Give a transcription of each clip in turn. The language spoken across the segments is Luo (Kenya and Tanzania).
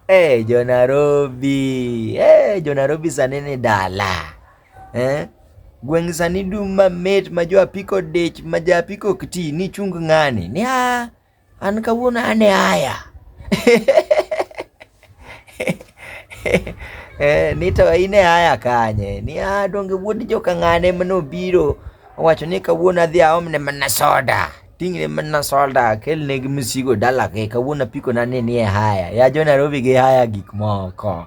Hey, jo Nairobi. Hey, jo Nairobi sani ni dala. Eh? Gweng' sani dum mamit ma jo apiko dich ma ja apiko kti ni chung ng'ani. Ni a an kawuono ane aya. Eh, ni to ine aya kanye ni ah, donge wuod joka ng'ane mano biro owacho ni kawuono adhi aomne mana soda ting'ne mana soda kelne gi msigo dala ke kawuono apiko na ni nie haya ya jo Nairobi gi haya gik moko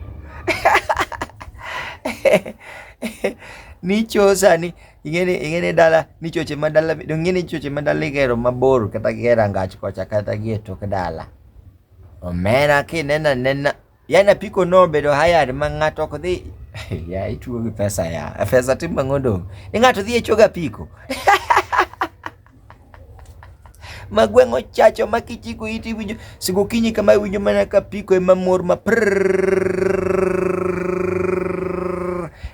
ni chosa ni ingene ingene dala ni choche ma dala dongene choche ma dala igero mabor kata gera ngach kocha kata gi e tok dala Omera kineno anena, yani apiko no obedo hired ma ng'ato ok dhi ya ituo gi pesa ya pesa tim ang'o dong' ni ng'ato dhi e choga apiko ma gweng'o chacho ma kichiko iti winjo sigo kinyi kama winjo mana ka piko ema mor ma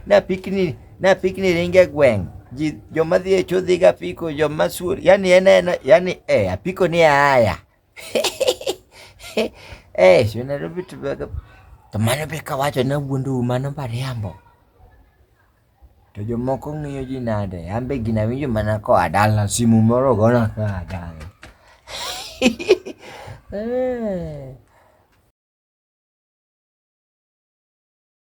na pikni na pikni ringe gweng' ji joma dhi e cho dhiga apiko joma suor yani en yani eh apiko ni aya Eh, si unajua vitu vya kamano be kawacho na wuondu mano mariambo. To jomoko ng'iyo ji nade? An be gina winjo mana koa dala simu moro gona koa dala. Eh.